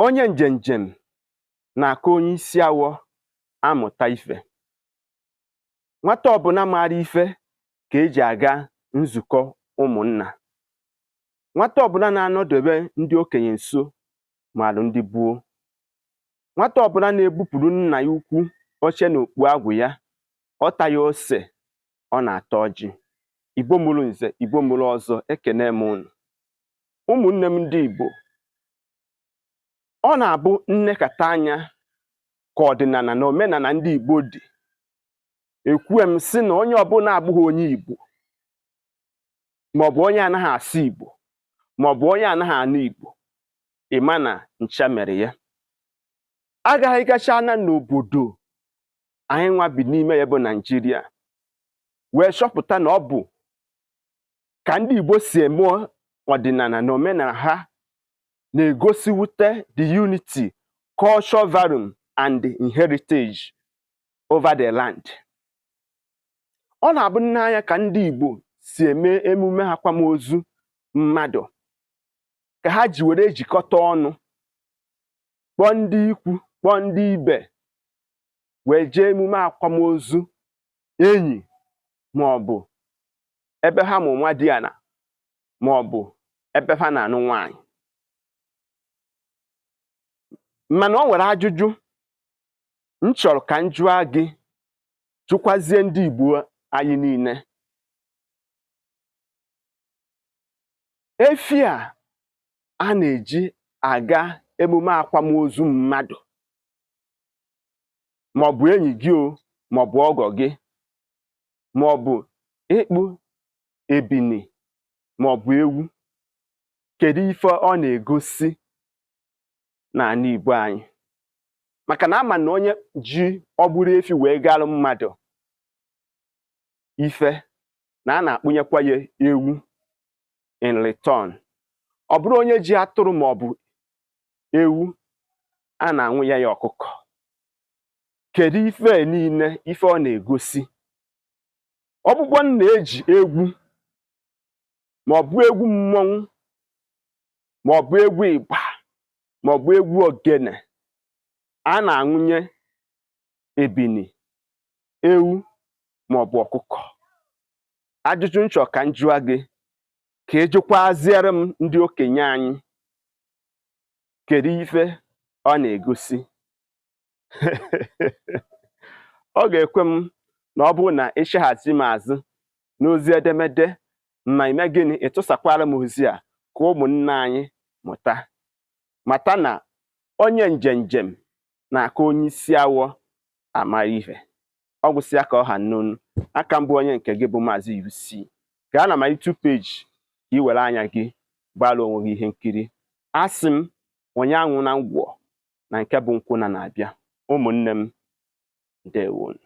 onye njenjem na-aka onye isi awọ amụta ife nwata ọbụla maara ife ka eji aga nzukọ ụmụnna nwata ọbụla na-anọdebe ndị okenye nso maara ndị gboo nwata ọbụla na-ebupụrụ nna ya ukwu oche na okpu agwụ ya ọ taghị ose ọ na-ata ọjị igbo mụrụ nze igbo mụrụ ọzọ ekene m unu ụmụnne m ndị Igbo ọ na-abụ m nekata anya ka ọdịnala na omenala ndị Igbo dị ekwue m sị na onye ọbụla abụghị onye Igbo maọbụ onye anaghị asụ Igbo maọbụ onye anaghị anụ Igbo ịma na ncha mere ya agaghị gacha na n'obodo anyị nwa bi n'ime ya bụ Naijiria wee chọpụta na ọ bụ ka ndị Igbo si eme ọdịnala na omenala ha na-egosiwute the unity, culture value and heritage over the land. Ọ na-abụ m nee anya ka ndị Igbo si eme emume akwamozu mmadụ ka ha ji were ejikọta ọnụ kpọọ ndị ikwu kpọọ ndị ibe wee jee emume akwamozu enyi ma ọ bụ ebe ha mụ nwadiana ma ọ bụ ebe ha na-anụ nwaanyị mana o nwere ajụjụ m chọrọ ka m jụọ gị jụkwazie ndị Igbo anyị niile efi a a na-eji aga emume akwamozu mmadụ maọbụ enyi gị o maọbụ ọgọ gị ma ọ bụ ịkpụ ebini ma ọ bụ ewu kedu ife ọ na-egosi n'ala Igbo anyị maka na ama na onye ji ọ bụrụ efi wee galụ mmadụ ife na a na-akpụnyekwa ya ewu in return ọ bụrụ onye ji atụrụ ma ọ bụ ewu a na-anwụnye ya ọkụkọ kedu ife a niile ife ọ na-egosi ọ bụkwa na eji egwu ma ọ bụ egwu mmọnwụ ma ọ bụ egwu ịgba ma ọ bụ egwu ogene a na-anwụnye ebini ewu ma ọ bụ ọkụkọ ajụjụ m chọ ka m jụọ gị ka ị jụkwaziere m ndị okenye anyị kedu ife ọ na-egosi ọ ga-ekwe m na ọ bụrụ na ịchaghazi m azụ n'ozi edemede ma i mee gịnị ị tụsakwara m ozi a ka ụmụnna anyị mụta mata na onye njem njem na-aka onye isi awọ amara ihe ọ gwụsịa ka ọ ha m n'ọnụ aka m bụ onye nke gị bụ maazị UC gaa na my YouTube page ka ị were anya gị gbara onwe gị ihe nkiri asị m onye aṅụna ngwọ na nke bụ nkwụ na-abịa ụmụnne m ndewonụ